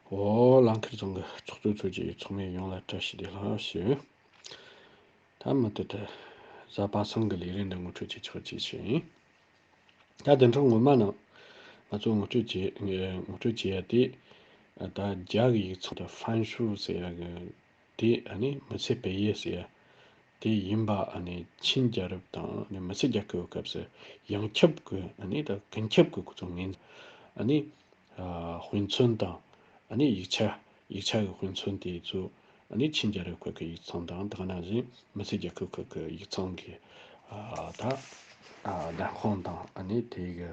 འོ། ལང་ཁེར་རྫོང་གི་ཚོགས་གཙོའི་ཚོགས་ཀྱི་ཚོགས་མི་ཡོངས་ལ་བཀྲ་ཤིས་བདེ་ལགས་ཞུ། ད་མུ་མཐུད་དུ། གཟའ་པ་སངས་གི་ལས་རིགས་འདི་ངོ་སྤྲོད་བྱེད་ཆོག་ཅེས་ཞུ་ཡིན། ད་བདེན་ཁྲོམ་ངོ་མ་ནང་ང་ཚོ་ངོ་སྤྲོད་བྱེད་ངོ་སྤྲོད་བྱེད་ཡ་དེ། ད་རྒྱ་གི་ཡིག་ཚང་དུ་ཧྥན་ཤུ་ཟེར་ཡ་གི་དེ་ཨ་ནི་མི་ཚེ་བེ་ཡེ་ཟེར་ཡ། དེ་ཡིན་པ་ཆིན་རྒྱལ་རབས་དང་མི་སེར་རྒྱལ་ཁབ་ཀྱི་སྐབས་སུ་ཡང་ཁྱབ་ཀྱི་གངས་ཁྱབ་ཀྱི་གཙོ་ངན། དཔེ་མཚོན་དང་ཡིག་ཆ། ཡིག་ཆ་ཀྱི་དཔེ་མཚོན་དེ་ཚོ་ཆིན་རྒྱལ་རབས་ཁག་གི་ཡིག་ཚང་དང་དག་ན་བཞིན་མི་སེར་རྒྱལ་ཁབ་ཁག་གི་ཡིག་ཚང་གི་བརྡ་ཁོངས་དང་དེའི།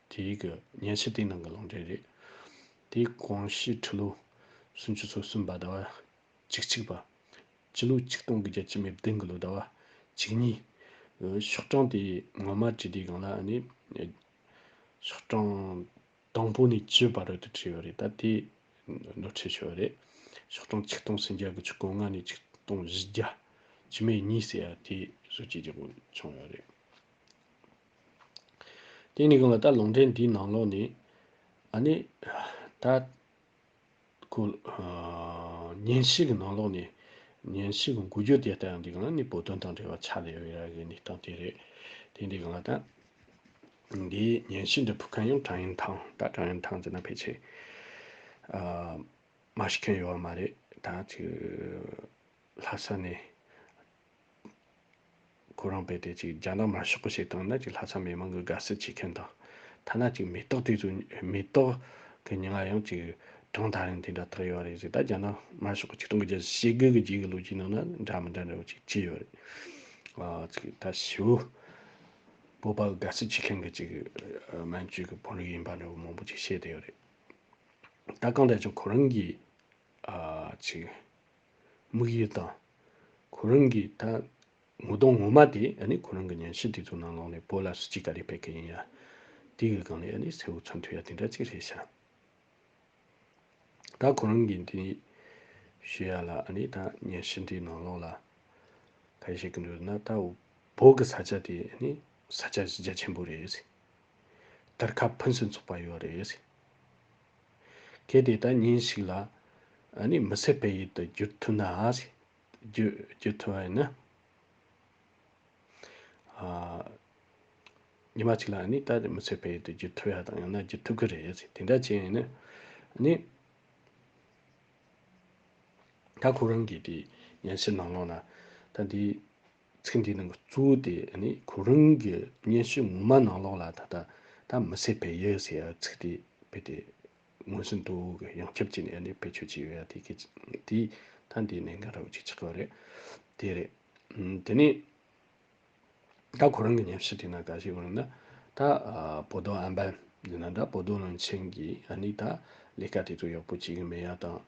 དེ་རིགས་ཀྱི་ཉལ་ཆས་དེའི་ནང་གི་ལུང་འདྲེན་རེད། དེའི་གོང་གཤིས་ཁྲི་ལོ་སུམ་ཅུ་སོ་གསུམ་པ་ཟླ་བ་གཅིག་གཅིག་པ། སྤྱི་ལོ་ཆིག་སྟོང་གི་བརྒྱད་ཅུ་མེ་བདུན་གྱི་ལོ་ཟླ་བ་གཅིག་གཉིས། ཤོག་གྲངས་དེ་ངོ་མ་བྲིས་དུས་གང་ལ་ཨ་ནི། ཤོག་གྲངས་དང་པོ་ནས་བཅུ་བར་རོལ་དུ་བྲིས་ཡོད་རེད་ད་དེ་ནོར་འཁྲུལ་བྱུང་བ་རེད། ཤོག་གྲངས་ཆིག་སྟོང་སུམ་བརྒྱ་གི་ཆུ་སྐོར་ལྔ་ནས་ཆིག་སྟོང་བཞི་བརྒྱ། ཆུ་མེད་གཉིས་ཟེར་ཡ་དེ་བཟོ་བཅོས་བྱེད་དགོས་བྱུང་ཡོད་རེད། དེ་ནས་གང་ལ་ད་ལུང་འདྲེན་དེའི་ནང་ལོགས་ནས། ཨ་ནི། ད། ཁོ། ཉིན་ཞིག་གི་ནང་ལོགས་ནས། ཉིན་ཞིག་གི་འགུལ་སྐྱོད་དེ་ལྟ་ཡང་འདི་གང་ལ་ནི་བོད་དོན་དང་འབྲེལ་བ་ཆགས་ལེ་ཡོད་རེད་ནི་སྟངས་དེ་རེད། དེ་འདི་གང་ལ་ད། འདིའི་ཉིན་ཞིག་འདི་ཕུག་མཁན་ཡང་ཀྲང་ཡན་ཐང་ད་ཀྲང་ཡན་ཐང་ཟེར་ན་ཕལ་ཆེར། ཨ། མ་ཤི་མཁན་ཡོད་བ་མ་རེད་ད། ལྷ་ས་ནས། ཁོ་རང་རྦད་དེ་ཅིག་རྒྱ་ནག་མ་ཤོག་གི་ཞེས་བཏང་ན་ཅིག་ལྷ་ས་མི་མང་གི་དགའ་བསུ་བྱེད་མཁན་དང། ཐ་ན་ཅིག་མེ་ཏོག་དུས་སུ་མེ་ཏོག་གི་སྙན་ངག་ཡང་ཅིག་གྲངས་ད་རིང་དེ་འདྲ་དག་ཡོད་རེད་ཟེར་ད་རྒྱ་ནག་མ་ཤོག་གི་ཆིག་སྟོང་གི་རྒྱལ་སྲིད་བྱེད་དགོས་གི་རྒྱའི་གི་ལོ་རྒྱུས་ནང་ན་འདྲ་མི་འདྲ་འདྲ་བོ་ཅིག་བྱས་ཡོད་རེད། ཅིག་ད་བྱིས་བོ་སྤོབས་པ་དགའ་བསུ་བྱེད་མཁན་གི་ཅིག་མན་ཇུའི་གི་བོད་རིགས་ཡིན་པ་འདྲ་བོ་མང་པོ་ཅིག་བཤད་དེ་ཡོད་རེད། ད་གང་དྲན་ཅིག་ཁོ་རང་གིས་ཅིག། དམིགས་ཡུལ་དང། གོ་རིམ་གྱི་ད། ངོ་གདོང་ངོ་མ་དེ་ནི་གོ་རིམ་གྱི་ཉན་ཤེས་དེ་ཚོ་ནང་ལོགས་ནས་བོད་ལ་སུ་གཅིག་ག་རེ་ཕེབས་མཁན་ཡིན་ཡ། དེ་གི་སྒང་ནས་ནི་སེའུ་ཚོན་འཐུལ་ཡ་དེ་འདྲ་གཅིག་རེད་བྱ། ད་གོ་རིམ་གྱི་འདི། ཞུ་ཡ་ལ་ནི་ད་ཉན་ཤེས་འདི་ནང་ལོགས་ལ། ག་རེ་བྱེད་གི་འདུག་ན་ད་བོད་གི་ས་ཆ་དེ་ནི་ས་ཆ་རྒྱ་ཆེན་པོ་རེད། དར་ཁ་ཕུན་སུན་ཚོགས་པ་ཡོད་རེད། གལ་ཏེ་ད་ཉིན་ཞིག་ལ་ནི་མི་ཟད་པའི་ཡུལ་དུ་འགྱུར་ཐུབ་ན་འགྱུར་ཐུབ་བ་ཡིན་ན། ཉི་མ་ཞིག་ལ་ནི་ད་མི་ཟད་པའི་ཡུལ་དུ་འགྱུར་ཐུབ་ཡ་དང་ཡང་ན་འགྱུར་ཐུབ་ཀྱི་རེད། དེ་འདྲ་བྱས་ནས་ནི། ད་ཁོ་རང་གི་དེ་ཡན་ཕྱིར་ནང་ལོགས་ན་ད་དེ། ཚིག་འདིའི་ནང་གི་གཙུག་དེ་ནི་གོ་རིམ་གྱི་སྙན་ཞུ་ངོ་མ་ནང་ལོགས་ལ་ད་ལྟ་ད་མི་སེར་བལ་ཡུལ་ཟེར་བའི་ཚིག་དེ་བེད་དེ་ངོས་ཟིན་ཏུ་གི་ཡང་ཁྱབ་ཅིག་ནས་བེད་སྤྱོད་བྱས་ཡོད་ཡ་དེ་ད་འདི་ནས་འགན་རུབ་ཅིག་ཆགས་ཀྱི་རེད་དེ་རེད། དེ་ནས་ད་གོ་རིམ་གྱི་སྙན་ཞུ་དེ་ནང་ག་ཞིག་ཡོང་ན་ད་བོ་དོ་ཨན་པན་ཡིན་ན་འདྲ་བོ་དོ་བློན་ཆེན་གྱིས་ཨ་ནི་ད་ལས་ཀ་དེ་ཚོ་ཡག་པོ་བྱེད་ཀྱི་མེད་ཡ་དང།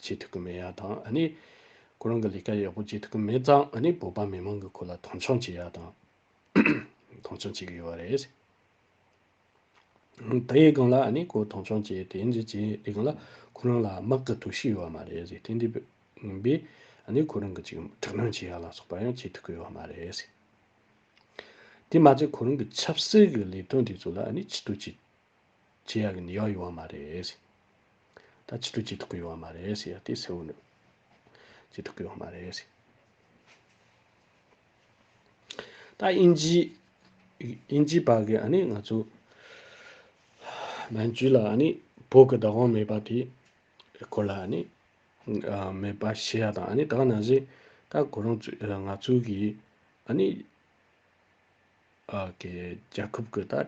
བྱེད་ཐུབ་ཀྱི་མེད་ཡ་དང་ཨ་ནི། ཁོ་རང་གི་ལས་ཀ་ཡག་པོ་བྱེད་ཐུབ་ཀྱི་མེད་ཙང་ཨ་ནི་བོད་པ་མི་མང་གི་ཁོ་ལ་མཐོང་ཆུང་བྱེད་ཡ་དང། མཐོང་ཆུང་བྱེད་ཀྱི་ཡོད་རེད། དེའི་སྒང་ལ་ཨ་ནི་ཁོ་མཐོང་ཆུང་བྱེད་དེ་འདྲས་བྱེད་དེ་སྒང་ལ་ཁོ་རང་ལ་དམག་གི་དུག་ཤི་ཡོད་བ་མ་རེད་ཏེ་འདྲས་ཡིན་པས་ཨ་ནི་ཁོ་རང་གི་ཅིག་དྲག་གནོན་བྱེད་ཡ་ལ་སོགས་པ་ཡང་བྱེད་ཐུབ་ཀྱི་ཡོད་མ་རེད། དེ་མ་ཚད་ཁོ་རང་གི་ཆབ་སྲིད་ཀྱི་ལས་དོན་དེ་ཚོ་ལ་ཨ་ནི་ཕྱི་དུ་ཅིག་ཇེ་ཡག་གིན་ཡོག་ཡོང་བ་མ་རེད། ད་ཕྱི་དྲོ་ཇེ་ཐུག་གི་ཡོང་བ་མ་རེད། ཡ་དེ་སེའུ་ནུ། ཇེ་ཐུག་གི་ཡོང་བ་མ་རེད། ད་དབྱིན་ཇི། དབྱིན་ཇི་བར་གི་ཨ་ནི་ང་ཚོ། མན་ཇུ་ལ་ཨ་ནི་བོད་ཀྱི་བདག་དབང་མེད་པ་དེ། སྐོར་ལ་ཨ་ནི། མེད་པ་ཤེས་ཡ་དང་ཨ་ནི་དག་ན་བཞིན། ད་གོ་རང་ཚོའི་ང་ཚོའི་གི། ཨ་ནི། ཨ་ཀྱི་རྒྱལ་ཁབ་ཀྱི་ད།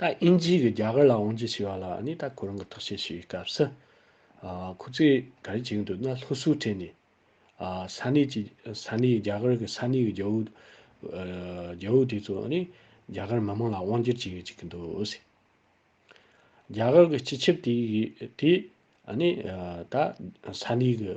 ད་དབྱིན་ཇིའི་གི་རྒྱ་གར་ལ་འོང་རྒྱུ་ཞེས་པ་ལ་ནི་ད་ཁོ་རང་གི་ཐག་བཅད་ཞུས་པའི་སྐབས་སུ། ཁོ་ཚོས་ག་རེ་བྱེད་ཀྱི་འདུག་ན་ལྷོ་སུའུ་ཁྲེན་ནས། ས་གནས་ཀྱི་ས་གནས་རྒྱ་གར་གི་ས་གནས་ཀྱི་རྒྱལ་བོ། རྒྱལ་བོ་དེ་ཚོ་ནི་རྒྱ་གར་མི་དམངས་ལ་དབང་བསྒྱུར་བྱེད་ཡོད་ཅིག་གི་འདུག་ཟེར། རྒྱ་གར་གྱི་སྤྱི་ཁྱབ་དེ་ཡི་དེ་ནི་ད་ས་གནས་ཀྱི།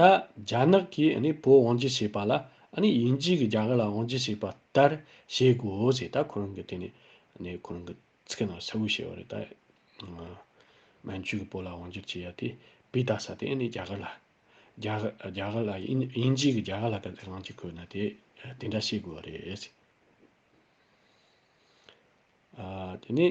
ད་རྒྱ་ནག་གིས་བོད་དབང་བསྒྱུར་བྱས་པ་ལ་དབྱིན་ཇི་གིས་རྒྱ་གར་ལ་དབང་བསྒྱུར་བྱས་པ་ལྟར་བྱེད་དགོས་ཞེས་ད་ཁོ་རང་གི་དེ་ནས་ཁོ་རང་གི་ཚིག་རྣམས་གསལ་བོ་བྱས་པ་རེད། ད་མན་ཇུ་གིས་བོད་ལ་དབང་བསྒྱུར་བྱས་ཡ་དེ་བུད་རྟ་ཟ་དེ་རྒྱ་གར་ལ། རྒྱ་གར་ལ་དབྱིན་ཇི་གིས་རྒྱ་གར་ལ་ད་དབང་བསྒྱུར་དགོས་ན་དེ་དེ་འདྲ་བྱེད་དགོས་པ་རེད། དེ་ནས།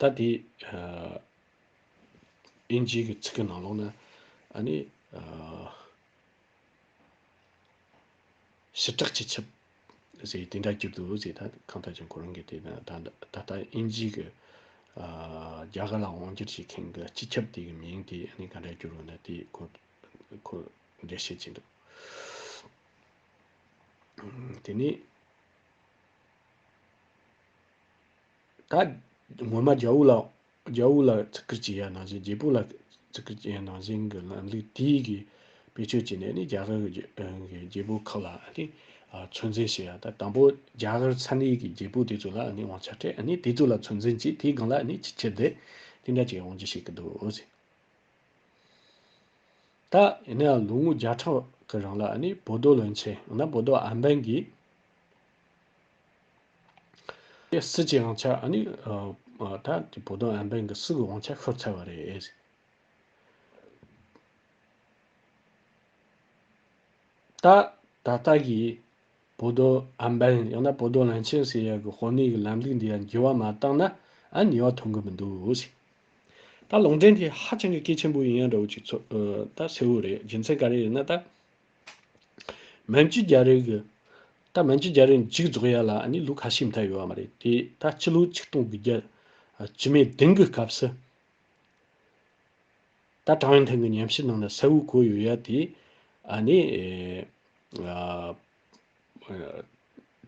ད་དེ་ཨིན་ཇིའི་གི་ཚིག་གི་ནང་ལོགས་ན་ཨ་ནི་ཞི་དྲག་ཅི་ཆེབ་ཟེ་དེ་འདྲ་རྒྱུད་དུ་ཟེ་ད་གང་ལྟར་ཅིང་ཁོ་རང་གི་དེ་ན་ད་ད་ད་ཨིན་ཇིའི་གི་རྒྱ་གར་ལ་དབང་བསྒྱུར་བྱེད་མཁན་གི་སྤྱི་ཁྱབ་དེ་གི་མིང་དེ་ཨ་ནི་ག་འདྲ་བསྒྱུར་བ་ན་དེ་ཁོ་ཁོ་འདྲ་བཤད་ཅིང་འདུག་དེ་ནི། ད། ངོ་མ་རྒྱ་དབུགས་ལ། རྒྱ་དབུགས་ལ་བརྩི་བཀུར་གྱི་ཡ་ནང་བཞིན་རྒྱལ་པོ་ལ་བརྩི་བཀུར་གྱི་ཡ་ནང་བཞིན་གྱི་ལམ་ལུགས་དེའི་གི་བེད་སྤྱོད་བྱས་ནས་ནི་རྒྱ་གར་གྱི་རྒྱལ་པོ་ཁག་ལ་ནི། ཚོད་འཛིན་བྱེད་ཡ་ད་དང་པོ་རྒྱ་གར་ཚ་ནི་གི་རྒྱལ་པོ་དེ་ཚོ་ལ་ནི་དབང་ཆ་སྤྲད་ནི་དེ་ཚོ་ལ་ཚོད་འཛིན་གྱིས་དེའི་སྒང་ལ་ནི་ཅི་བྱེད་དེ་དེ་འདྲ་གྱི་དབང་ཆ་བྱེད་ཀྱི་འདུག་ཟེར། ད་ཡིན་ན་ཡང་ལོ་ངོ་བརྒྱ་ཕྲག་གི་རིང་ལ་ནི་བོད་རྡོ་ལོན་ཆེ་ཡང་ན་བོད་རྡོ་ཨམ་བན་གྱིས། ཀྱི་སྲིད་ཀྱི་དབང་ཆ་ནི་ད་ལྟའི་བོད་དོན་ཨན་བན་གྱི་སྲིད་ཀྱི་དབང་ཆ་ཤོར་ཚར་བ་རེད། ད་ད་ལྟ་གི་བོད་དོན་ཨན་བན་ཡང་ན་བོད་དོན་ལེན་ཆེན་ཟེར་ཡ་གི་དཔོན་གནས་ཀྱི་ལམ་ལུགས་འདི་ཡང་འགྱུར་བ་མ་བཏང་ན་ཨ་ཉེས་བ་ཐོན་གི་མི་འདུག། ད་ལུང་འདྲེན་དེ་ཧ་ཅང་གི་སྐད་ཆེན་པོ་ཡིན་ཡ་འདྲ་བོ་ཅིག་ཚོད་ད་གསལ་བོ་རེད་རྒྱུ་མཚན་ག་རེ་ཡིན་ན་ད། མན་ཇི་རྒྱ་རི་གི། ད་མན་ཇི་རྒྱ་རི་མཇུག་རྫོགས་ཡ་ལ་ནི་ལུག་ཁ་ཤས་མཐའ་ཡོད་བ་མ་རེད་དེ། ད་སྤྱི་ལོའི་ཆིག་སྟོང་དགུ་བརྒྱ་ཇི་མའི་དིང་གི་སྐབས་སུ། ད་ཀྲང་ཡོན་ཐིང་གི་ཉམས་ཞིབ་ནང་ན་ས་བོའི་གོ་ཡོད་ཡ་དེ། ཨ་ནི།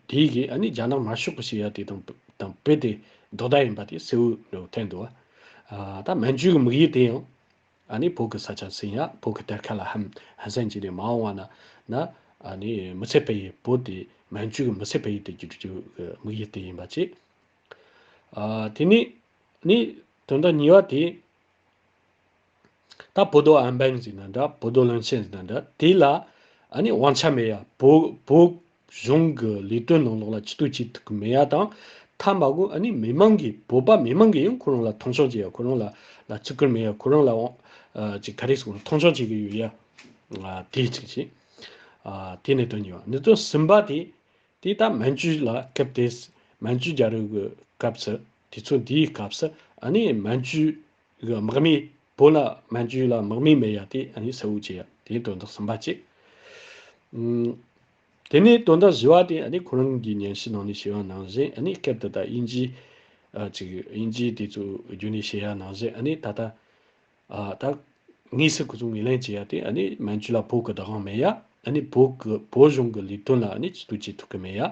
དེའི་གིས་ཨ་ནི་རྒྱ་ནག་མ་ཤོག་གི་ཞིག་ཡ་དེ་དང་དང་བོད་དེ་རྡོག་རྡ་ཡིན་པ་དེ་སེའུ་ནོ་ཐེན་དུ་བ། ད་མན་ཇུའི་མིག་ཡིག་དེ་ཡང། ཨ་ནི་བོད་ཀྱི་ས་ཆ་ཟིན་ཡ་བོད་ཀྱི་གཏེར་ཁ་ལ་ཧམ་ཟན་གྱིས་ནས་མ་འོང་བ་ན། ན། ཨ་ནི་མི་ཚད་བལ་ཡུལ་བོད་དེ་མན་ཇུ་གི་མི་ཚད་བལ་ཡུལ་དེ་གྱུར་རྒྱུ་གི་དམིགས་ཡུལ་དེ་ཡིན་པ་ཅི། ཨ། དེ་ནས། ནི། དོན་དག་གཉིས་པ་དེ། ད་བོད་རྡོ་ཨན་བན་ཟིན་ན་འདྲ་བོད་རྡོ་ལོན་ཆེན་ཟིན་ན་འདྲ་དེ་ལ། ཨ་ནི་དབང་ཆ་མེད་ཡ་བོད། གཞུང་གི་ལས་དོན་ནང་ལོགས་ལ་ཅི་ཐུག་ཅི་ཐུག་གི་མེད་ཡ་དང། ཐ་མ་གོ་ཨ་ནི་མི་མང་གིས་བོད་པ་མི་མང་གིས་ཡང་ཁོ་རང་ལ་མཐོང་ཆུང་བྱེད་ཡ་ཁོ་རང་ལ་ལ་ཅི་དགོས་མེད་ཡ་ཁོ་རང་ལ་འོང་ཅིག་ག་རེ་ཟིག་འོང་མཐོང་ཆུང་བྱེད་གི་ཡོད་ཡ། དེ་གཅིག་བྱས། དེ་ནས་དོན་གཉིས་པ་ནི་ཚོ་ཟིན་པ་དེ་དེ་ད་མན་ཇུ་ལ་སྐབས་དེ་མན་ཇུ་རྒྱ་རུ་གི་སྐབས་སུ་དེ་ཚོ་འདིའི་སྐབས་སུ་ཨ་ནི་མན་ཇུ་གི་དམག་མི་བོད་ལ་མ་འཇུས་ལ་དམག་མི་མེད་ཡ་དེ་ཨ་ནི་སེའུ་བྱེད་ཡ་དེ་དོན་དག་གསུམ་པ་གཅིག། དེ་ནས་དོན་དག་བཞི་བ་དེ་ཨ་ནི་ཁོ་རང་གིས་ཉན་ཤེས་ནང་ནས་བྱས་ཡ་ནང་བཞིན་ཨ་ནི་སྐད་དེ་དག་དབྱིན་ཇིའི་གཅིག་དབྱིན་ཇིའི་དེ་ཚོ་རྒྱུད་ནས་བྱས་ཡ་ནང་བཞིན་ཨ་ནི་ད་ལྟ་ད་དངོས་སུ་ཁོ་ཚོ་ངོས་ལེན་བྱས་ཡ་དེ་ཨ་ནི་མ་འཇུས་ལ་བོད་ཀྱི་བདག་དབང་མེད་ཡ་ཨ་ནི་བོད་ཀྱི་བོད་གཞུང་གི་ལས་དོན་ལ་ཨ་ནི་ཇི་ལྟོས་བྱེད་ཐུབ་ཀྱི་མེད་ཡ།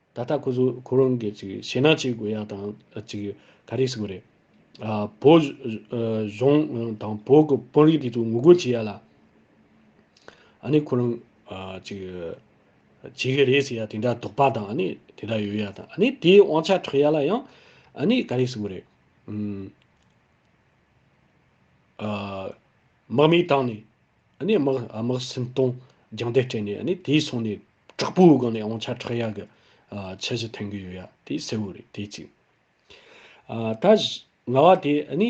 ད་ལྟ་ཁོ་ཚོས་ཁོ་རང་གི་ཞེད་སྣང་བྱེད་དགོས་ཡག་དང་ག་རེ་ཟེར་གི་རེད། བོད་གཞུང་དང་བོད་ཀྱི་དཔོན་རིགས་དེ་ཚོས་ངོ་རྒོལ་བྱེད་ཡག་ལ། ཨ་ནི་ཁོ་རང་བྱེད་གི་རེད་ཟེར་ཡག་དེ་འདྲ་དོགས་པ་དང་ཨ་ནི་དེ་འདྲ་ཡོད་ཡག་དང་ཨ་ནི་དེའི་དབང་ཆ་འཕྲོག་ཡག་ལ་ཡང་ཨ་ནི་ག་རེ་ཟེར་གི་རེད། དམག་མི་བཏང་ནས་ཨ་ནི་དམག་དམག་སེམས་གཏོང་རྒྱང་ལྟས་སྤྲད་ནས་ཨ་ནི་དེའི་སོང་ནས་དྲག་པོའི་སྒང་ནས་ཨོང་ཆ་ཁྲག་ཡག་གི་ཆ་བཞི་འཐེན་གི་ཡོད་ཡ་དེ་གསལ་བོ་རེད་དེ་གཅིག། ཨ་ད་ང་བ་དེ་ཨ་ནི།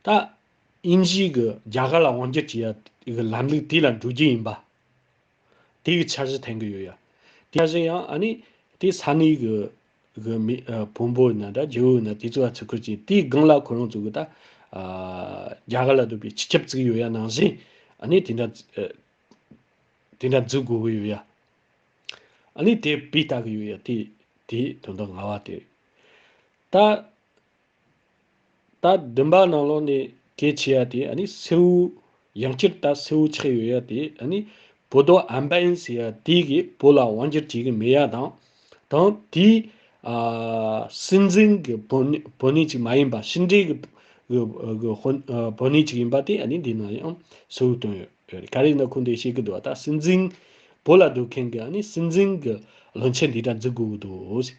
ད་དབྱིན་ཇིའི་གི་རྒྱ་གར་ལ་དབང་སྒྱུར་གྱི་ཡ་གི་ལམ་ལུགས་དེ་ལ་འགྲོ་རྒྱུ་ཡིན་པ། དེ་ཡི་འཆར་གཞི་ཐེང་གི་ཡོད་ཡ། དེ་བཞིན་ཡང་ཨ་ནི། དེའི་ས་ནི་གི། གི་མི། བོན་པོ་ཡིན་ན་དྲ་རྒྱའུ་ཡིན་ན་དེ་ཚོ་ཡ་ཚུགས་ཁུལ་གྱིས་དེའི་སྒང་ལ་ཁོ་རང་ཚོ་གི་ད། རྒྱ་གར་ལ་སྡོད་པའི་སྤྱི་ཁྱབ་བཙུགས་ཡོད་ཡ་ནང་བཞིན། ཨ་ནི་དེ་འདྲ། དེ་འདྲ་འཛུགས་དགོས་གི་ཡོད་ཡ། ཨ་ནི་དེ་བུས་བལྟ་གི་ཡོད་ཡ་དེ། དེའི་དོན་དུ་ང་བ་དེ། ད། ད་བདུན་པ་ནང་ལོགས་ནས་གལ་ཆེ་ཡ་དེ་ནི་སེའུ། ཡང་སྤྱིར་ད་སེའུ་ཆགས་ཡོད་ཡ་དེ་ནི་བོད་དོ་ཨམ་བན་ཟེར་ཡ་དེ་གིས་བོད་ལ་དབང་སྒྱུར་བྱེད་ཀྱི་མེད་ཡ་དང། དང་དེའི། སྲིད་འཛིན་གྱི་བོད་ནས་ཅིག་མ་ཡིན་པ་ཕྱི་འབྲེལ་གྱི་བོད་ནས་ཅིག་ཡིན་པ་དེ་ནི་འདི་ནང་ཡང་སེའུ་སྟོན་ཡོད་རེད་ག་རེ་ནི་ཁོང་དེ་ཤེས་ཀྱི་འདུག་ད་སྲིད་འཛིན་བོད་ལ་སྡོད་མཁན་གྱི་སྲིད་འཛིན་གྱི་བློན་ཆེན་འདི་འདྲ་འཛུགས་དགོས་ཀྱི་འདུག།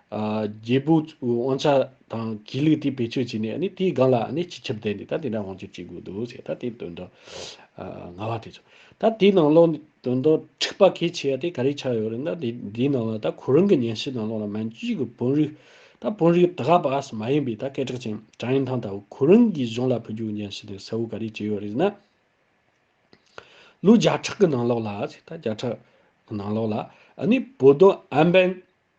རྒྱལ་པོ་དབང་ཆ་དང་དགེ་ལུགས་དེ་བེད་སྤྱོད་བྱས་ནས་དེའི་སྒང་ལ་སྤྱི་ཁྱབ་བསྡད་ནས་ད་དེ་འདྲ་དབང་སྒྱུར་བྱེད་དགོས་འདུག་ཅེས་ད་དེ་དོན་དག་ང་བ་དེ་ཚོད་ད་དེའི་ནང་ལོགས་དོན་དག་འཁྲིག་པ་གལ་ཆེ་བ་དེ་ག་རེ་ཆགས་ཡོད་རེད་ན་དེ་དེའི་ནང་ལ་ད་ཁོ་རང་གི་ཉན་ཤེས་དང་ལོགས་ལ་མན་ཇུས་ཀྱི་བོན་རིགས་ད་བོན་རིགས་ད་ག་པཱས་མ་ཡིན་པའི་ད་སྐད་གྲགས་ཅན་ཀྲང་ཡན་ཐང་ད་བུ་ཁོ་རང་གི་གཞུང་ལ་ཕུལ་རྒྱུའི་ཉན་ཤེས་དེ་གསལ་བོ་ག་རེ་བྱས་ཡོད་རེད་ན། ལོ་བརྒྱ་ཕྲག་གི་ནང་ལོགས་ལ་ཅེས་ད་བརྒྱ་ཕྲག་གི་ནང་ལོགས་ལ་བོད་དོན་ཨན་བན།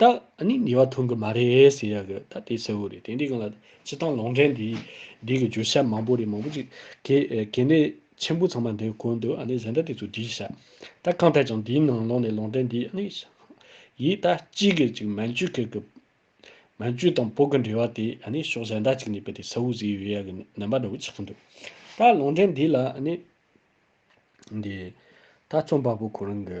ད་ནི་ཉེས་བ་འཐུང་གི་མ་རེད་ཟེར་ཡག་གི་ད་དེ་གསལ་བོ་རེད་དེ་འདི་གང་ལ་སྤྱི་བཏང་ལོང་འདྲེན་འདི་འདི་གི་བརྗོད་བྱ་མང་པོ་རེད་མང་པོ་ཅིག་གི་གལ་གནད་ཆེན་པོ་ཚང་མ་འདིར་བཀོད་འདུག་ཨ་ནི་གཟེངས་རྟགས་དེ་ཚོ་བསྒྲིགས་བྱ་ད་གང་ཐད་ཀྱང་འདིའི་ནང་ལོག་ནས་ལོང་འདྲེན་འདི་ཨ་ནི་ཡིས་ད་ཅིག་གི་ཅིག་མན་ཇུ་ཁེར་གི་མན་ཇུ་དང་བོད་གི་འབྲེལ་བ་དེ་ཨ་ནི་ཕྱོགས་གཞན་དག་ཅིག་ནས་བལྟས་གསལ་བོ་ཟེར་ཡོད་ཡག་གི་རྣམ་པ་འདྲ་བོ་ཆགས་ཀྱི་འདུག་ད་ལོང་འདྲེན་འདི་ལ་ཨ་ནི་འདི་ད་རྩོམ་པ་པོ་ཁོ་རང་གི་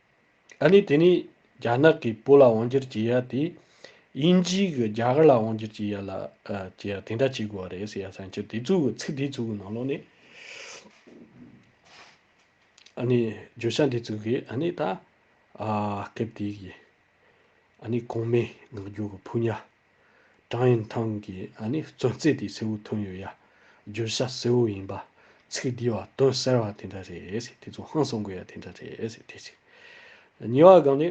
ཨ་ནི་དེ་ནི་རྒྱ་ནག་གིས་བོད་ལ་དབང་བསྒྱུར་གྱི་ཡ་དེ་དབྱིན་ཇིའི་གི་རྒྱ་གར་ལ་དབང་བསྒྱུར་གྱི་ཡ་ལ་གྱི་ཡ་དེ་འདྲ་བྱེད་དགོས་བ་རེད་ཟེར་ཡ་བསམ་ཁྱེད་དེ་ཚོའི་གི་ཚིག་དེ་ཚོའི་གི་ནང་ལོག་ནས་ཨ་ནི་བརྗོད་བྱ་འདི་ཚོའི་གི་ཨ་ནི་ད་ཨ་སྐད་དེའི་གི་ཨ་ནི་གོང་མའི་ངག་རྒྱུན་གི་ཕུ་ཉག་ཀྲང་ཡོན་ཐང་གིས་ཨ་ནི་གཙོས་རྩེད་དེ་སེའུ་ཐོན་ཡོད་ཡ། བརྗོད་བྱ་སེའུ་ཡིན་པ། ཚིག་འདི་བ་དོན་གསལ་བ་དེ་འདྲ་རེད་དེ་ཚོ་ཧང་སང་དགོས་ཡ་དེ་འདྲ་རེད་དེ་གཅིག། གཉིས་བ་གང་ནི།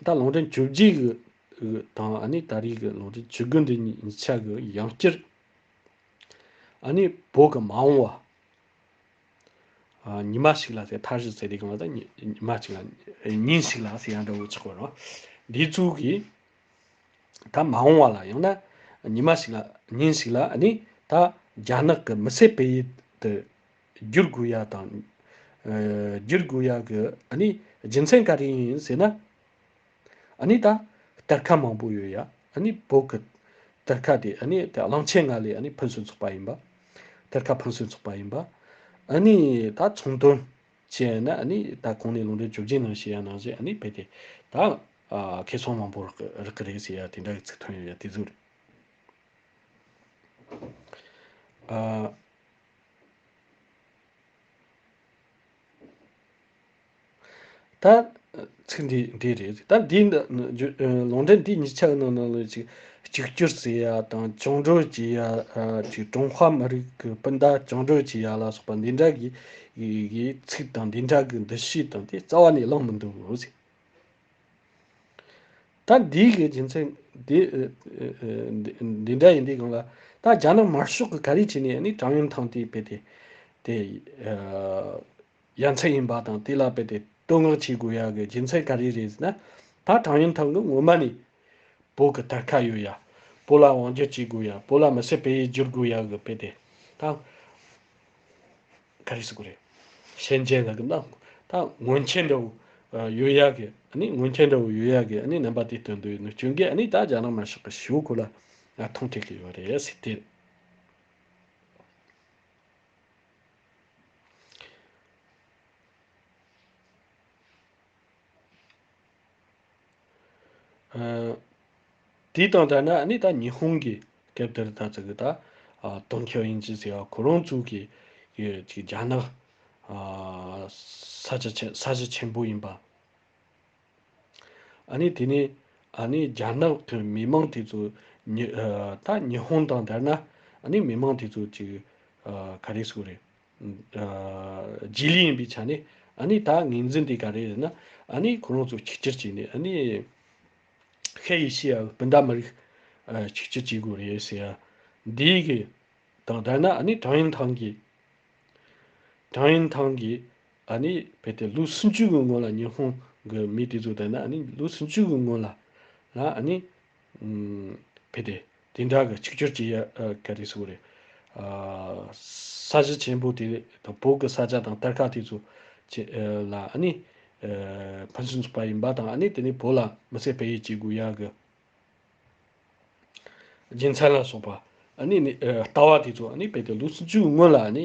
ད་ལོང་ཀྲན་བཅུ་བརྒྱད་གི་དང་ཨ་ནི་ད་རིས་ཀྱི་ལོང་ཀྲན་བཅུ་དགུ་འདི་གཉིས་ཆ་གི་ཡང་བསྐྱར་ཨ་ནི་བོད་ཀྱི་མ་འོང་བ་ཉི་མ་ཞིག་ལ་ཟེར་མཐའ་བཞི་ཟེར་དེ་གང་ལ་ད་ཉི་མ་གཅིག་ལ་ཉིན་ཞིག་ལ་ཟེར་ཡང་འདྲ་བོ་ཆགས་པ་རང་འདི་ཚུལ་གྱིས། ད་མ་འོང་བ་ལ་ཡང་ན་ཉི་མ་ཞིག་ལ་ཉིན་ཞིག་ལ་ནི་ད་རྒྱ་ནག་གི་མི་སེར་སྤེལ་ཡུལ་དུ་བསྒྱུར་དགོས་ཡ་དང། བསྒྱུར་དགོས་ཡ་གི་ནི་རྒྱུ་མཚན་ག་རེ་ཡིན་ཟེར་ན། ནི་ད་གཏེར་ཁ་མང་པོ་ཡོད་ཡ་ནི་བོད་ཀྱི་གཏེར་ཁ་དེ་ནི་དེ་གླང་ཆེན་ང་ལས་ནི་ཕུན་སུན་ཚོགས་པ་ཡིན་པ། གཏེར་ཁ་ཕུན་སུན་ཚོགས་པ་ཡིན་པ། ནི་ད་ཚོང་དོན་ཅེས་ན་ནི་ད་གོང་ནས་ལུང་འདྲེན་བཅུ་བཞི་ནང་ཞེས་ཡང་ནང་ཞེས་ནི་བེད་དེ། ད་ཁེ་སོང་མང་པོ་རག་གི་རག་གི་རེད་ཞེས་ཡང་དེ་འདྲ་གི་ཚིག་ཐོན་ཡོད་ཡང་དེ་ཟུར། ད། ཚིག་འདི་འདི་རེད། ད་འདིའི་ལུང་འདྲེན་འདི་གཉིས་ཆ་ནང་ནང་ལོས་ཅིག་གཅིག་གྱུར་བརྩི་ཡ་དང་བྱུང་འགྲོས་བགྱིད་ཡ་ཅིག་ཀྲུང་ཧྭ་མི་རིགས་ཀྱི་སྤུན་ཟླ་བྱུང་འགྲོས་བགྱིད་ཡ་ལ་སོགས་པ་འདི་འདྲ་གི་གི་ཚིག་དང་འདི་འདྲ་གི་འདུ་ཤེས་དང་དེ་རྩ་བ་ནས་བླངས་མི་འདུག་གཟིགས། ད་འདིའི་གི་རྒྱུ་མཚན་འདི་འདི་འདྲ་ཡིན་དུས་གང་ལ་ད་རྒྱ་ནག་དམར་ཤོག་གི་ག་རེ་བྱས་ནས་ནི་ཀྲང་ཡོན་ཐང་དེ་སྤེལ་ཏེ་དེ། ཡ་མཚན་ཡིན་པ་དང་དེ་ལ་རྦད་དེ་བསྟོད་བསྔགས་བྱེད་དགོས་ཡ་གི་རྒྱུ་མཚན་ག་རེ་རེད་ཟེར་ན། ད་ཀྲང་ཡོན་ཐང་གི་སྔོན་མ་ནས་བོད་ཀྱི་དར་ཁ་ཡོད་ཡ། བོད་ལ་དབང་བསྒྱུར་བྱེད་དགོས་ཡ་བོད་ལ་མི་སེར་སྤེལ་ཡུལ་བསྒྱུར་དགོས་ཡ་གི་རྦད་དེ་ད་ག་རེ་ཟེར་གི་རེད། ཤན་འབྱེད་ལ་གི་ན་ད་སྔོན་ཆད་འདྲ་བོ་ཡོད་ཡ་གི་ཨ་ནི་སྔོན་ཆད་འདྲ་བོ་ཡོད་ཡ་གི་ཨ་ནི་རྣམ་པ་དེ་སྟོན་དུས་ནུ་སྤྱོད་འགས་ཨ་ནི་ད་རྒྱ་ནག་མ་ཤག་གི་ཞོ་གོ་ལ་ང་ཐོང་ཐེག་གི་ཡོད་རེད་ཟེར་དུས། དེ་དང་འདྲ་ན་ནི་ད་ཉི་ཧོང་གི་སྐབས་དེར་ད་ཙི་གི་ད་ཏོན་ཁྱོ་ཡིན་ཅི་ཟེར་བ་ཁོ་རང་ཚུགས་ཀྱི་རྒྱ་ནག་ས་ཆ་ཆེན་པོ་ཡིན་པ། ཨ་ནི་དེ་ནས་ཨ་ནི་རྒྱ་ནག་དོན་མི་མང་དེ་ཚོ་ད་ཉི་ཧོང་དང་འདྲ་ན་ཨ་ནི་མི་མང་དེ་ཚོ་ཅིག་ག་རེ་སུ་རེད་རྗེས་ལུས་ཡིན་པའི་ཆ་ནས་ཨ་ནི་ད་ངེས་འཛིན་དེ་ག་རེ་རེད་ན་ཨ་ནི་ཁོ་རང་ཚོ་ཆིག་ཆིར་བྱས་ནས་ཨ་ནི་ཧེ་ཡེ་ཤི་ཡའི་སྤུན་ཟླ་མི་རིགས་ཆིག་ཆིར་བྱེད་དགོས་རེད་ཟེར་ཡ་འདི་གི་དང་འདྲ་ན་ཨ་ནི་ཀྲང་ཡན་ཐང་གིས་ཀྲང་ཡན་ཐང་གིས་ཨ་ནི་བལ་ཏེ་ལུག་སུམ་ཅུ་གི་སྔོན་ལ་ཉི་ཧོང་གི་མི་དེ་ཚོ་དང་ནི་ཨ་ནི་ལུག་སུམ་ཅུ་གི་སྔོན་ལ་ལ་ཨ་ནི་བལ་ཏེ་དེ་འདྲ་གི་ཆིག་སྒྱུར་བྱེད་ཡ་ག་རེ་ཟེར་བ་རེད། ས་གཞི་ཆེན་པོ་དེ་དང་བོད་གི་ས་ཆ་དང་གཏེར་ཁ་དེ་ཚོ་བྱེད་ལ་ཨ་ནི་ཕན་ཚུན་ཚུགས་པ་ཡིན་པ་དང་ཨ་ནི་དེ་ནི་བོད་ལ་མི་སེར་སྤེལ་ཡས་བྱེད་དགོས་ཡ་གི་རྒྱུ་མཚན་ལ་སོགས་པ་ཨ་ནི་ནི་ལྟ་བ་དེ་ཚོ་ཨ་ནི་བལ་ཏེ་ལུག་སུམ་ཅུ་གི་སྔོན་ལ་ཨ་ནི་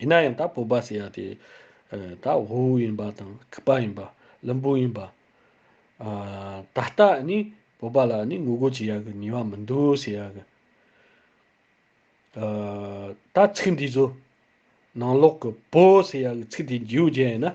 ཡིན་ན་ཡང་ད་བོད་པ་ཟེར་ཡ་དེ་ད་ཝུའུ་ཡིན་པ་དང་ཁི་པ་ཡིན་པ་ལིན་པུའུ་ཡིན་པ། ད་ལྟ་ནི་བོད་པ་ལ་ནི་ངོ་རྒོལ་བྱེད་ཡ་གི་ནུས་བ་མི་འདུག་ཟེར་ཡ་གི། ད་ཚིག་འདི་ཚོ་ནང་ལོག་གི་བོད་ཟེར་ཡ་གི་ཚིག་འདི་འཇིའུ་བརྒྱལ་ཡིན་ན།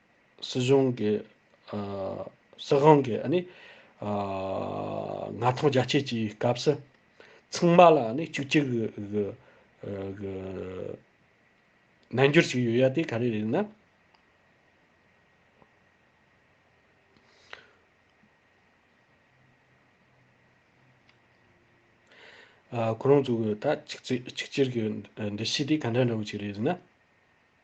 སྲིད་གཞུང་གི་སྲིད་དབང་གི་ནི་མངའ་ཐང་རྒྱ་བསྐྱེད་ཀྱི་སྐབས་སུ་ཚང་མ་ལ་ནི་གཅིག་གྱུར་གྱི་རྣལ་འབྱོར་ཞིག་ཡོད་ཡ་དེ་ག་རེ་རེད་ན། ཁོ་རང་ཚོ་གི་ད་གཅིག་གཅིག་གྱུར་གྱི་འདུ་ཤེས་དེ་ག་འདྲ་འདྲ་བོ་ཅིག་རེད་ན།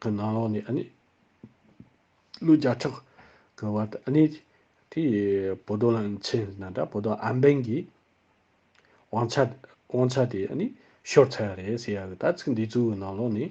གི་ནང་ལོགས་ནས་ནི། ཀླུ་བརྒྱ་ཕྲག་གི་བར་དུ་ནི། དེའི་བོ་དོང་ལ་མཚན་ཟིན་ན་འདྲ་བོ་དོང་ཨམ་བན་གྱི། དབང་ཆ་དབང་ཆ་དེ་ནི་ཤོར་ཚར་བ་རེད་ཟེར་ཡག་གི་ད་ཚིག་འདི་ཚོའི་ནང་ལོགས་ནས།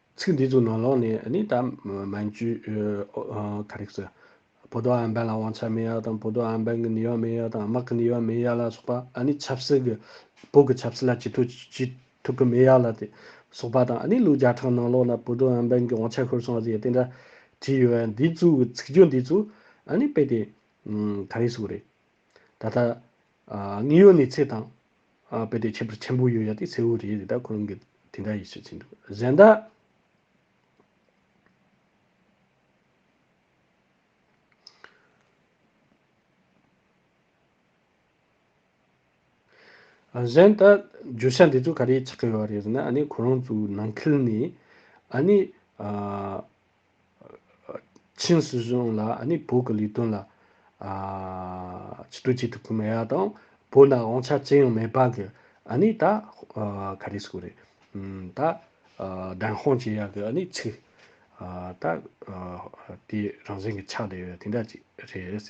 ཚིག་འདི་ཚོ་ནང་ལོགས་ནས་ནི་ད་མ་འཇུས། ག་རེ་ཟེར། བོ་དོ་ཨན་བན་ལ་དབང་ཆ་མེད་ཡག་དང་བོ་དོ་ཨན་བན་གྱི་ནུས་བ་མེད་ཡག་དང་དམག་གི་ནུས་བ་མེད་ཡག་ལ་སོགས་པ་ནི་ཆབ་སྲིད་ཀྱི་བོད་ཀྱི་ཆབ་སྲིད་ལ་ཅི་ཐུག་ཅི་ཐུག་གི་མེད་ཡག་ལ་དེ་སོགས་པ་དང་ནི་ལུགས་བརྒྱ་ཕྲག་ནང་ལོགས་ན་བོ་དོ་ཨན་བན་གྱི་དབང་ཆ་ཤོར་སོང་བ་ཟེར་ཡ་དེ་འདྲ་བྲིས་ཡོད་བ་འདི་ཚོའི་ཚིག་སྦྱོར་འདི་ཚོ་ནི་དཔེ་དེ་ག་རེ་ཟུག་རེད། ད་ལྟ་དངོས་ཡོད་གནས་ཚད་དང་རྦད་དེ་ཁྱད་པར་ཆེན་པོ་ཡོད་ཡ་དེ་གསལ་བོ་རེད་དེ་ད་ཁོང་གིས་དེ་འདྲ་ཡིས་ཟེར་གྱིན་འདུག་གཟན་ད། གཟན་ད་བརྗོད་བྱ་འདི་ཚོ་ག་རེ་ཆགས་ཀྱི་ཡོད་རེད་ཟེར་ན་ཨ་ནི་ཁོ་རང་ཚོའི་ནང་ཁུལ་ནས་ཨ་ནི། ཆིང་སྲིད་གཞུང་ལ་ནི་བོད་ཀྱི་ལས་དོན་ལ་ཕྱི་དྲོ་བྱེད་ཐུབ་ཀྱི་མེད་ཡ་དང། བོད་ནང་དབང་ཆ་ཅི་ཡང་མེད་པ་གི་ནི་ད་ག་རེ་སྐོར་རེད། ད་བདེན་དཔང་བྱེད་ཡ་གི་ནི་ཚིག་ད་དེ་རང་བཞིན་གྱི་ཆགས་བསྡད་ཡོད་དེ་འདྲ་ཅིག་རེད།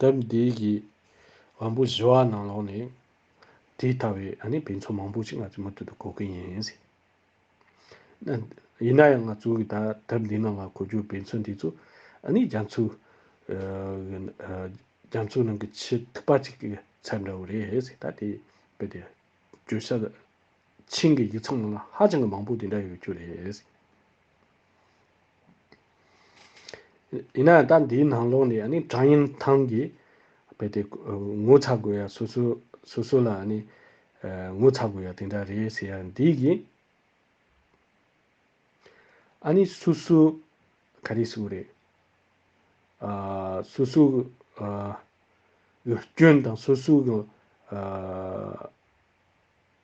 དེབ་འདིའི་གི་དབང་པོ་བཞི་བ་ནང་ལོགས་ནས་དེ་ལྟ་བའི་ཨ་ནི་བེད་མཚོ་མང་པོ་ཞིག་ང་ཚོའི་མུ་མཐུད་དུ་གོ་གི་ཡིན། ཡིན་ན་ཡང་ང་ཚོའི་གི་ད་དེབ་འདི་ནང་ང་གོ་རྒྱུ་བེད་མཚོ་འདི་ཚོ་ཨ་ནི་རྒྱ་མཚོའི་རྒྱ་མཚོའི་ནང་གི་ཆེས་མཐུག་པ་ཅིག་གི་ཚད་འདྲ་བོ་རེད་ད་དེ་བེད་དེ་བརྗོད་བྱ་ཆིངས་གི་ཡིག་ཚང་ནང་ལ་ཧ་ཅང་གི་མང་པོ་དེ་འདྲ་ཡོད་རྒྱུ་རེད། ཡིན་ནའང་ད་འདིའི་ནང་ལོགས་ནས་ནི་ཀྲང་ཡིན་ཐང་གིས་རྦད་དེ་ངོ་ཚ་དགོས་ཡ་སོ་སོས་སོ་སོ་ལ་ནི་ངོ་ཚ་དགོས་ཡ་དེ་འདྲ་རེད་ཟེར་ཡ་འདི་གི་ཨ་ནི་སུ་སུ་ག་རེ་ཟུག་རེད། ཨ་སུ་སུ་གི་སྐྱོན་དང་སུ་སུ་གི།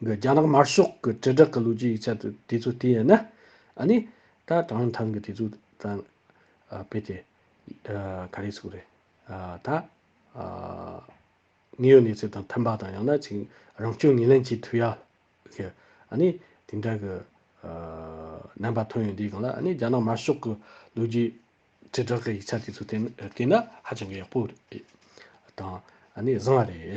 གི་རྒྱ་ནག་དམར་ཤོག་གི་དྲིལ་བསྒྲགས་ཀྱི་ལོ་རྒྱུས་ཡིག་ཆ་དེ་དེ་ཚོ་བལྟས་ན། ཨ་ནི། ད་གྲངས་ཐང་གི་དེ་ཚོ་དང། དཔེ་དེ། ག་རེ་ཟུག་རེད། ད། དངོས་ཡོད་གནས་ཚུལ་དང་མཐུན་པ་དང་ཡང་ན་ཅིང་རང་སྐྱོན་ངོས་ལེན་བྱེད་ཐུབ་ཡ། གི། ཨ་ནི། དེ་འདྲ་གི། རྣམ་པ་ཐོན་ཡོད་འདི་གང་ལ་ཨ་ནི་རྒྱ་ནག་དམར་ཤོག་གི་ལོ་རྒྱུས། དྲིལ་བསྒྲགས་ཀྱི་ཡིག་ཆ་དེ་ཚོ་བལྟས་ན་ཧ་ཅང་གི་ཡག་པོ། དང། ཨ་ནི་བཟང་བ་རེད།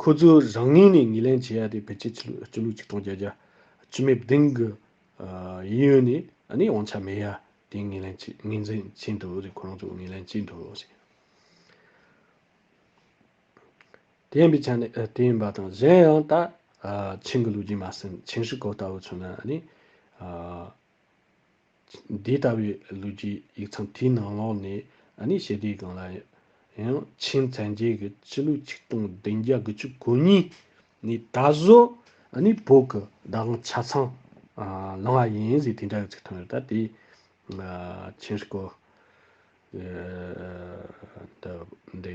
ཁོ་ཚོས་རང་ངོས་ནས་ངོས་ལེན་བྱེད་ཡ་དེ་ཕལ་ཆེར་ཆོས་ལུགས་ཆོས་ལུགས་གཅིག་གྲོང་ཁྱེར་རྒྱ་ཆེ་མའི་སྡིངས་ཀྱི་ཡིད་ཡོད་ནས་ནི་དབང་ཆ་མེད་ཡ་དེ་ངོས་ལེན་བྱེད་ངོས་འཛིན་བྱེད་འདོད་དེ་ཁོ་རང་ཚོས་ངོས་ལེན་བྱེད་འདོད་བྱེད། དེ་ཡིན་པའི་ཆ་ནས་དེ་ཡིན་པ་དང་གཞན་ཡང་ད་ཆིང་གི་ལུགས་རྒྱུན་མ་ཟིན་ཆིང་ཧྲི་ཀོ་ལྟ་བུ་ཚོས་ནི་ནི། འདི་ལྟ་བུའི་ལུས་ཀྱི་ཡིག་ཚང་དེའི་ནང་ལོགས་ནས་ནི་ཞི་བདེའི་སྒང་ལ་ཡང་ཆིན་མཚན་རྒྱས་ཀྱི་སྤྱི་ལོའི་ཆིག་སྟོང་བདུན་བརྒྱ་དགུ་བཅུ་གོ་གཉིས་ནས་ད་གཟོད་ནི་བོད་ཀྱི་བདག་དབང་ཆ་ཚང་བླངས་བ་ཡིན་ཟེར་དེ་འདྲ་གི་ཚིག་ཐོན་ཡོད་ད་དེ་ཆིན་སྐོར་འདི་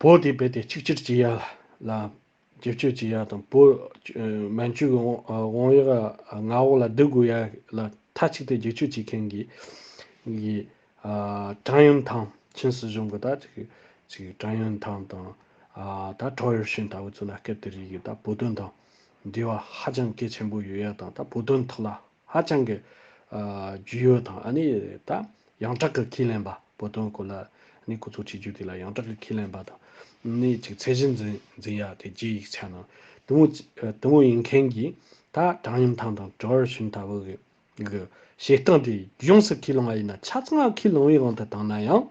བོད་དེ་བས་ཏེ་ཆིག་ཆིར་སྐྱི་གཡའ་ལ། བྱེད་སྤྱོད་སྐྱི་གཡའ་དང་བོད། མན་ཇུ་གི་བང་ཡག་མངའ་འོག་ལ་སྡུད་དགོས་ཡག་ལ་མཐའ་གཅིག་ཏུ་བརྒྱུད་སྤྱོད་བྱེད་མཁན་གྱི། ཀྲང་ཡོན་ཐང་ཆིན་སྲིད་གཞུང་གི་ད། ཀྲང་ཡོན་ཐང་དང། ད་ཀྲའོ་ཡོ་ཤིན་ལྟ་བུ་ཚོ་ལ་སྐད་དེ་རིགས་ཀྱི་ད་བོད་དོན་དང། འབྲེལ་བ་ཧ་ཅང་གལ་ཆེན་པོ་ཡོད་ཡག་དང་ད་བོད་དོན་ཐོག་ལ། ཧ་ཅང་གི་རྒྱུས་ཡོད་དང་ཨ་ནི་ད་ཡང་དྲག་གི་ཁས་ལེན་པ་བོད་དོན་སྐོར་ལ་ཨ་ནི་གོ་ཚོགས་བྱེད་རྒྱུ་དེ་ལ་ཡང་དྲག་གི་ཁས་ལེན་པ་དང་ཨ་ནི་ཅིག་ཚད་གཞི་འཛིན་འཛིན་ཡག་དེ་རྗེས་ཡིག་ཆ་ནང་དུ་མོ་དུ་མོ་ཡིན་མཁན་གྱིས་ད་བྲང་ཡུམ་ཐང་དང་གྲོ་བར་ཤུན་ལྟ་བུ་གི་བྱེད་སྟངས་དེ་ཡོངས་སུ་ཁས་ལེན་བ་ཡིན་ན་ཆ་ཚང་ཁས་ལེན་བའི་དབང་དུ་བཏང་ན་ཡང།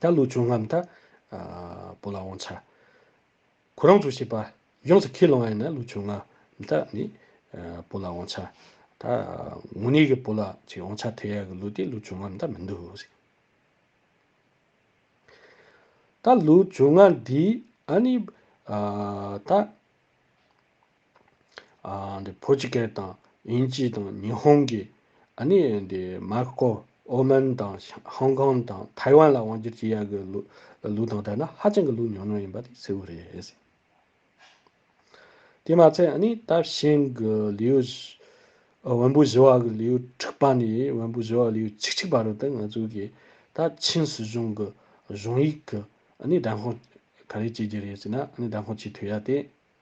ད་ལོ་བྱུང་ངམ་ད་བོ་ལ་འོང་ཆ། ཁོ་རང་ཚོ་བྱས་པ་ཡོངས་སུ་ཁས་ལོངས་ཨེ་ན་ལོ་བྱུང་ངམ་ད་ནི་བོ་ལ་འོང་ཆ། ད་ངོ་ནས་གི་བོ་ལ་ཅིག་འོང་ཆ་ཐལ་ཡག་གི་ལོ་དེ་ལོ་བྱུང་ངམ་ད་མི་འདུག་ཟེར། ད་ལོ་བྱུང་ང་འདི་ཨ་ནི་ད། བོད་ཀྱི་སྐད་དང་དབྱིན་ཇི་དང་ཉི་ཧོང་གི་ནི་མར་ཀོ་ཨོ་མན་དང་ཧོང་ཀོང་དང་ཐའེ་ཝན་ལ་དབང་བསྒྱུར་བྱེད་ཡག་གི་ལུགས་དང་བྲལ་ན་ཧ་ཅང་གི་ལུགས་ཉུང་ཉུང་ཡིན་པ་དེ་གསལ་བོ་རེད། དེ་མ་ཚད་ནི་ད་ཤིང་གི་ལིའུ་བོན་པོ་བཞི་བ་གི་ལིའུ་དྲུག་པ་ནི་བོན་པོ་བཞི་བ་ལིའུ་བཅུ་གཅིག་པ་རུ་དེ་ང་ཚོ་གི་ད་ཆིན་སྲིད་གཞུང་གི་གཞུང་ཡིག་གི་ནི་དྲན་དཔོག་ག་རེ་བྱེད་ཀྱི་རེད་ཟེར་ན་དྲན་དཔོག་བྱེད་ཐུབ་ཡ་དེ།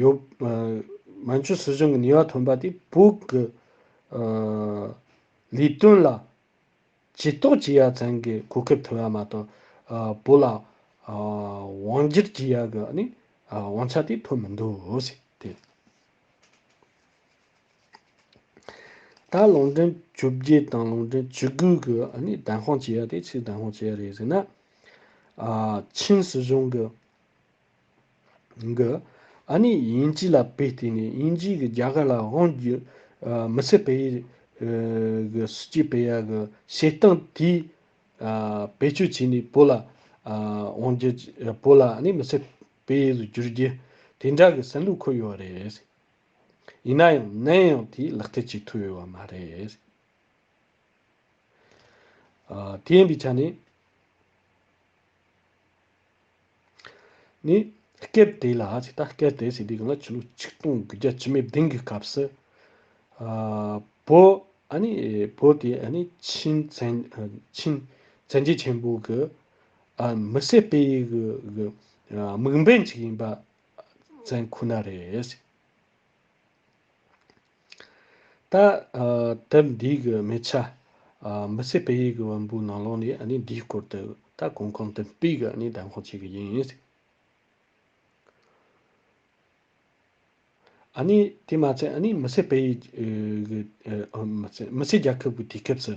ཡོད། མན་ཇུ་སྲིད་གཞུང་གི་ནུས་པ་ཐོན་པ་དེས་བོད་ཀྱི་ལས་དོན་ལ་ཇུས་གཏོགས་བྱེད་ཡ་ཚང་གི་གོ་སྐབས་ཐོན་ཡ་མ་གཏོགས་བོད་ལ་དབང་བསྒྱུར་བྱེད་ཡ་གི་དབང་ཆ་དེ་ཐོན་མི་འདུག། ད་ལུང་འདྲེན་བཅོ་བརྒྱད་དང་ལུང་འདྲེན་བཅོ་དགུ་གི་བདེན་དཔང་བྱེད་ཡ་དེ་ཕྱིར་བདེན་དཔང་བྱེད་ཡ་རེད་ཟེར་ན། ཆིན་སྲིད་གཞུང་གི་གི། ཨ་ནི་དབྱིན་ཇི་ལ་བེད་བསྟེན་ནས་དབྱིན་ཇི་གི་རྒྱ་གར་ལ་དབང་བསྒྱུར་མི་སྲིད་པའི་གི་སུ་ཅི་པེ་ཡ་གི་བྱེད་སྟངས་དེའི་བེད་སྤྱོད་བྱས་ནས་བོད་ལ་དབང་བསྒྱུར་བོད་ལ་ཨ་ནི་མི་སྲིད་པའི་གི་བསྒྱུར་རྒྱུ་དེ་འདྲ་གི་སེམས་ལུགས་འཁོད་ཡོད་རེད། ཡིན་ན་ཡང་ནམ་ཡང་དེས་ལག་བསྟེར་བྱེད་ཐུབ་ཡོད་པ་མ་རེད། དེ་ཡིན་པའི་ཆ་ནས། ནི། སྐད་དེ་ལ་ཅིག་ལྟ་སྐད་དེ་ཞེས་དེའི་སྒང་ལ་ཆུ་ལུག་ཆིག་སྟོང་གི་རྒྱ་ཆུ་མའི་གདེང་གི་སྐབས་སུ། བོ། བོད་ཀྱི་ཆིན་བཙན་རྒྱལ་ཆེན་པོ་གི་མི་བསད་སྤེལ་ཡུལ་གྱི་དམིགས་འབེན་ཅིག་ཡིན་པ་བཙན་ཁོ་ན་རེད། ད་དེབ་འདིའི་གི་མི་ཆ། མི་ཚེ་སྤེལ་ཡུལ་གི་དབོན་པོའི་ནང་ལོགས་ནས་ནི་འདིའི་སྐོར་དུ་ད་གོང་གོང་དུ་སྤེལ་གི་ནི་གདམས་ཁང་བྱེད་གི་ཡིན། ནི་དེ་མ་ཚད་ནི་མི་ཚེ་སྤེལ་ཡུལ་གི་མི་ཚེ་རྒྱལ་ཁབ་གི་དུས་སྐབས་སུ།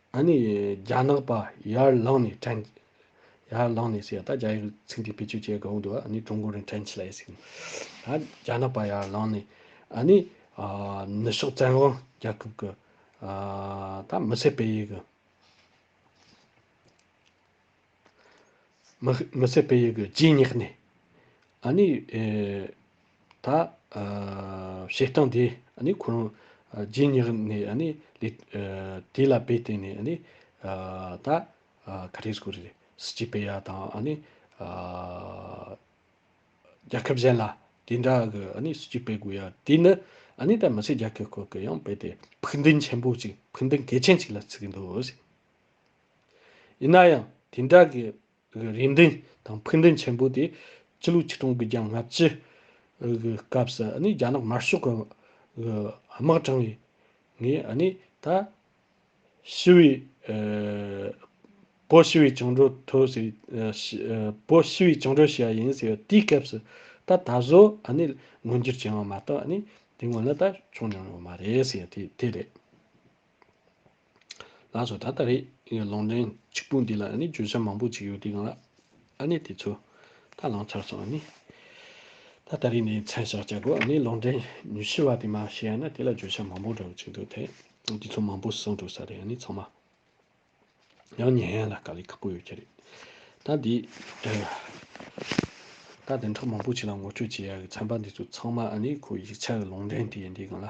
ཨ་ནི་རྒྱ་ནག་པ་ཡར་ལངས་ནས་དྲན། ཡར་ལངས་ནས་ཟེར་ཡ་ད་རྒྱ་ཡིག་ཚིག་འདི་བེད་སྤྱོད་བྱེད་དགོས་འདུག་ཨ་ནི་ཀྲུང་གོ་རིང་དྲན་ཆི་ལ་ཡེ་སི། ད་རྒྱ་ནག་པ་ཡར་ལངས་ནས་ཨ་ནི། ནུ་ཞོག་བཙན་དབང་རྒྱལ་ཁབ་གི། ད་མི་སེར་སྤེལ་ཡིག་གི། མི་ཚད་པའི་ཡུལ་གྱི་རྗེས་བསྙེགས་ནས། ཨ་ནི། ད། བྱེད་སྟངས་དེ་ནི་ཁོ་རང། རྗེས་བསྙེགས་ནས་ཨ་ནི། དེ་ལ་དཔེ་བལྟས་ནས་ཨ་ནི། ད། ག་རེ་སྐོར་རེད། སྲིད་སྤྱི་པའི་ཡ་དང་ཨ་ནི། རྒྱལ་ཁབ་གཞན་ལ་དེ་འདྲ་གི་ཨ་ནི་སྲིད་སྤྱི་སྤེལ་དགོས་ཡ། དེ་ནི་ཨ་ནི་ད་མི་ཚད་རྒྱལ་ཁབ་སྐོར་གྱི་ཡང་དཔེ་དེ་ཕུགས་འདུན་ཆེན་པོ་གཅིག་ཕུགས་འདུན་གལ་ཆེན་གཅིག་ལ་བརྩི་གི་འདུག། ཡིན་ན་ཡང་དེ་འདྲ་གི་རེ་འདུན་དང་ཕུགས་འདུན་ཆེན་པོ་དེ་ཕྱི་ལོ་ཆིག་སྟོང་དགུ་བརྒྱ་ལྔ་བཅུ་གི་སྐབས་སུ་རྒྱ་ནག་དམར་ཤོག་གི་དམག་དྲངས་ཡས་ངས་ད་ཞི་བའི་བོད་ཞི་བའི་བཅིངས་འགྲོལ་ཐོབ་ཟེར་བོད་ཞི་བའི་བཅིངས་འགྲོལ་བྱས་ཡིན་ཟེར་བ་དེའི་སྐབས་སུ་ད་ད་གཟོད་མངོན་འགྱུར་བྱུང་བ་མ་གཏོགས་དེ་སྔོན་ལ་ད་བྱུང་མྱོང་ཡོད་མ་རེད་ཟེར་བ་དེ་རེད། ལགས་སོ་ད་ལྟ་རེད་ཡིན་ལོང་འདྲེན་གཅིག་པུ་འདི་ལ་ཨ་ནི་བརྗོད་བྱ་མང་པོ་གཅིག་ཡོད་དེ་གང་ལགས་ཨ་ནི་དེ་ཚོ་ད་ལོང་ཚར་སོང་ཨ་ནི་ད་ལྟ་རེད་ནས་མཚན་བཞག་བྱ་དགོས་ཨ་ནི་ལོང་འདྲེན་ཉུ་ཤི་བ་དེ་མ་ཤེས་ཡ་ན་དེ་ལ་བརྗོད་བྱ་མང་པོ་འདྲ་བོ་གཅིག་འདུག་དེ་དེ་ཚོ་མང་པོ་སོང་འགྲོ་ས་རེད་ཨ་ནི་ཚང་མ་ཡང་ཉན་ཡ་ལ་དཀའ་ལས་ཁག་པོ་ཡོད་ཀྱི་རེད་ད་འདི་ད་དེ་འདྲ་མང་པོ་གཅིག་ལ་ངོ་སྤྲོད་བྱེད་ཡ་གི་ཚན་པ་འདི་ཚོ་ཚང་མ་ཨ་ནི་ཁོ་ཡིག་ཆ་གི་ལོང་འདྲེན་དེ་ཡིན་དེ་གང་ལ།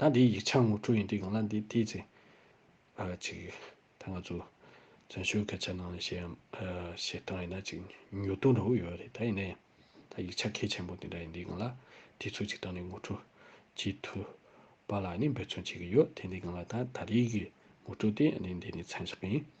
ད་འདིའི་ཡིག་ཆ་ངོ་སྤྲོད་ཡིན་དུས་ཡོང་ན་འདི་དེའི་ཚེ། ཨ་ཅིག། ད་ང་ཚོ། བཙན་བྱོལ་སྐད་ཆ་ནང་ལ་ཞེད་ཞེད་སྟངས་ཡིན་ན་ཅིག་མྱུར་དུ་འགྲོ་གི་ཡོད་རེད་ད་ཡིན་ནའི། ད་ཡིག་ཆ་གལ་ཆེན་པོ་འདི་འདྲ་ཡིན་དུས་གང་ལ་དུས་ཚོད་ཅིག་བཏང་ནས་ངོ་སྤྲོད་བྱེད་ཐུབ། པ་ལ་ནི་འབོད་བརྩོན་བྱེད་ཀྱི་ཡོད་དེ་འདི་གང་ལ་ད་ད་རེས་ཀྱི་ངོ་སྤྲོད་དེ་འདི་འདི་ནི་མཚན་བཞག་ཡིན།